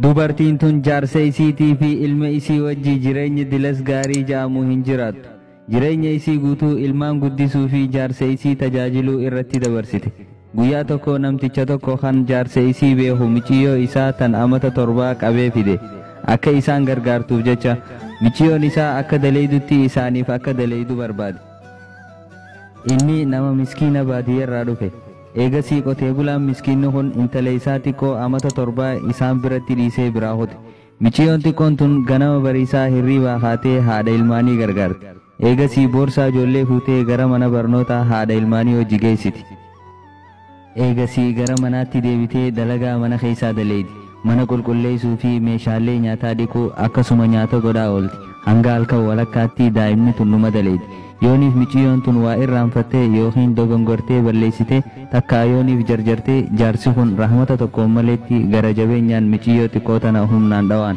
Dubartiin tun jaarsa isiitii fi ilma isii wajji jireenya dilas gaarii ja'amu hin jiraattu. Jireenya isii guutuu ilmaan guddisuu fi jaarsa isii tajaajiluu irratti dabarsite. Guyyaa tokko namticha tokko kan jaarsa isii beeku miciyyoo isaa tan amata torbaa qabee fide. Akka isaan gargaartuuf jecha, miciyyoon isaa akka daleydutti isaaniif akka daleydu barbaade. Inni nama miskiina baadiyyarraa dhufe. Eegasii qotee bulaan miskiinni kun intala isaa xiqqoo amata torbaa isaan biratti dhiisee biraa kute. Miciyoon xiqqoon tun ganama bariisaa hirriibaa kaatee haadha ilmaanii gargaarti. Eegasii boorsaa ijoollee fuutee gara mana barnootaa haadha ilmaanii wajji geessiti. Eegasii gara manaatti deebitee dalagaa mana keessaa daleydi. Mana qulqulleessuu fi meeshaalee nyaataa dhiquu akkasuma nyaata godhaa oolti. Hanga halkan walakkaatti daa'imni tun numa daleedi. Yooniif miciyyoon tun waa irraanfatte ykn dogongortee balleessite takkaa yooniif jarjarte jaarsi kun rahmata tokkoon maleetti gara jabeenyaan miciyyoo xiqqoo tana humnaan dhawaan.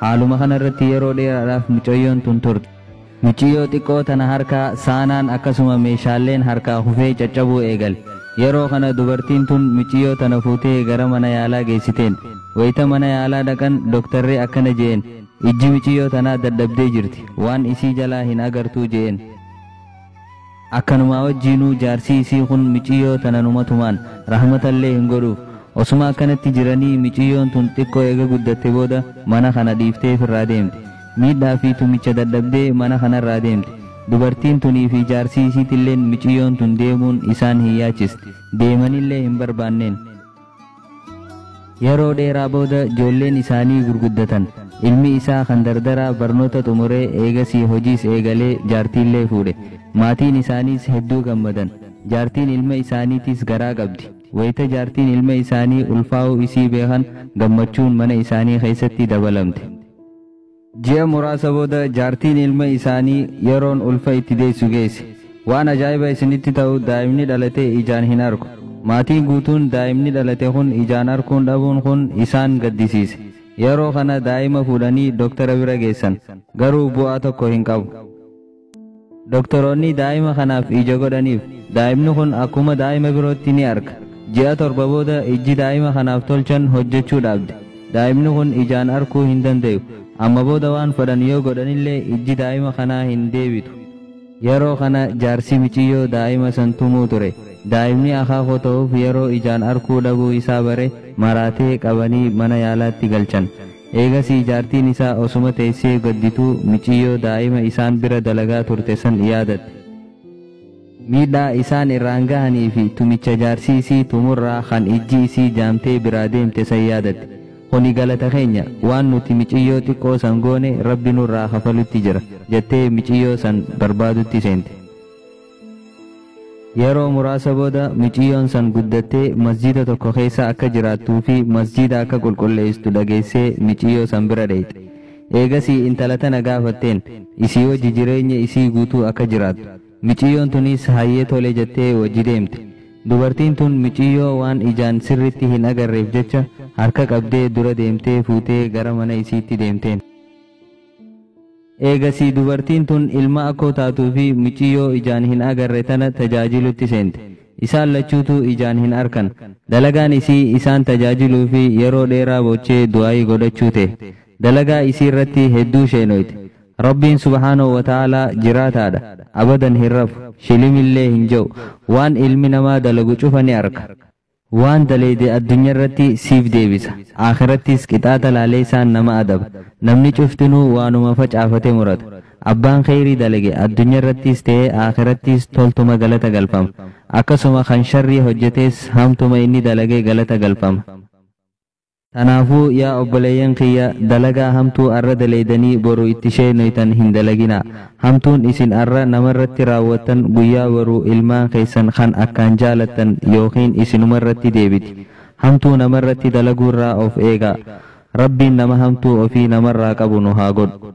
Haaluma kana irratti yeroo dheeraadhaaf mucayyoon tun turte. Muciyyoo xiqqoo tana harkaa saanaan akkasuma meeshaalleen harkaa kufee caccabuu eegale. Yeroo kana dubartiin tun muciyyoo tana fuutee gara mana yaalaa geessiteen. Wayita mana yaalaa dhaqan doktarri akkana je'een, ijji muciyyoo tanaa dadhabdee jirti. Waan isii jalaa hin agartuu je'een. Akkanumaa wajjiinuu jaarsii isii kun miciyyoo tana numa tumaan rahmatallee hin godhuuf. Osuma akkanatti jiranii miciyyoon tun xiqqoo eega guddatte booda mana kana dhiiftee ifirraa deemte. Miidhaa fi tumicha dadhabdee mana kanarraa deemte. Dubartiin tunii fi jaarsii isiitilleen miciyyoon tun deemuun isaan hin yaachisti. Deemanillee hin barbaanneen. Yeroo dheeraa booda ijoolleen isaanii gurguddatan. Ilmi isaa kan dardaraa barnoota xumuree eegasii hojiis eegalee jaartiillee fuudhe. Maatiin isaaniis hedduu gammadan. Jaartiin ilma isaaniitiis garaa qabdi. Wayita jaartiin ilma isaanii ulfaa'uu isii beekan gammachuun mana isaanii keessatti dabalamte. Ji'a muraasa booda jaartiin ilma isaanii yeroon ulfa itti deessu geesse. Waan ajaa'iba isinitti ta'u daa'imni dhalate ijaan hin argu. Maatiin guutuun daa'imni dhalate kun ijaan arkuun dhabuun kun isaan gaddisiise. Yeroo kana daa'ima fuudhanii doktara bira geessan. Garuu bu'aa tokko hin qabu. Doktoroonni daa'ima kanaaf ija godhaniif. Daa'imni kun akkuma daa'ima birootti ni arga. Ji'a torba booda ijji daa'ima kanaaf tolchan hojjechuu dhaabde. Daa'imni kun ijaan arkuu hin dandayu. Amma booda waan fedhan yoo godhanillee ijji daa'ima kanaa hin deebitu. Yeroo kana jaarsi miciyyoo daa'ima san tumuu ture. Daa'imni akaakoo ta'uuf yeroo ijaan arkuu dhabuu isaa bare maraatee qabanii mana yaalaatti galchan. Eegasii jaartiin isaa osuma teessee gaddituu miciyyoo daa'ima isaan bira dalagaa turte san yaadatte. Miidhaa isaan irraan gahanii fi tumicha jaarsi isii tumurraa kan ijji isii jaamtee biraa deemte san yaadatte. Kuni galata keenya, waan nuti miciyyoo xiqqoo san goone Rabbi nurraa kafalutti jira, jattee miciyyoo san barbaadutti seente. Yeroo muraasa booda miciyyoon san guddattee masjiida tokko keessa akka jiraattuu fi masjiida akka qulqulleessitu dhageessee miciyyoo san bira dheyxe. Eegasii intala tana gaafatteen isii wajji jireenya isii guutuu akka jiraattu. Miciyyoon tuniis hayyee tole jattee wajji deemte. Dubartiin tun miciyyoo waan ijaan sirritti hin agarreef jecha harka qabdee dura deemtee fuutee gara mana isiitti deemteen. Eegasii dubartiin tun ilma akkoo taatuu fi micciyyoo ijaan hin agarre tana tajaajilutti seente. Isaan lachuutuu ijaan hin arkan. Dalagaan isii isaan tajaajiluu fi yeroo dheeraa boochee du'aa'ii godhachuu tahe. Dalagaa isiirratti hedduu sheenooyte. Rabbiin subhaanahu wa ta'aalaa jiraataadha. Abadan hin rafu. Shilimillee hin je'u. Waan ilmi namaa dalagu cufa ni arka. Waan daleyde addunyarratti siif deebisa, aakhirattis qixaaxa laaleysaan nama adaba. Namni cuftinuu waanuma facaafate murata. Abbaan kheyrii dalage addunyarrattis ta'ee aakhirattis toltuma galata galfama. Akkasuma kan sharrii hojjates hamtuma inni dalage galata galfama. Tanaafuu yaa obboleeyyan kiyya dalagaa hamtuu arra daleeydanii boru itti sheeynoytan hin dalaginaa. Hamtuun isin arra namarratti raawwattan guyyaa boruu ilmaan keeysan kan akkaan jaalattan yookiin isinumarratti deebiti. Hamtuu namarratti dalaguurraa of eegaa. Rabbiin nama hamtuu ofii namarraa qabu nu haa godhu.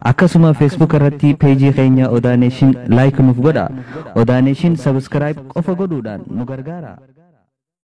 Akkasuma Facebook irratti page keenya Odaa Nation like nuuf godhaa. Odaa Nation subscribe qofa godhuudhaan nu gargaaraa.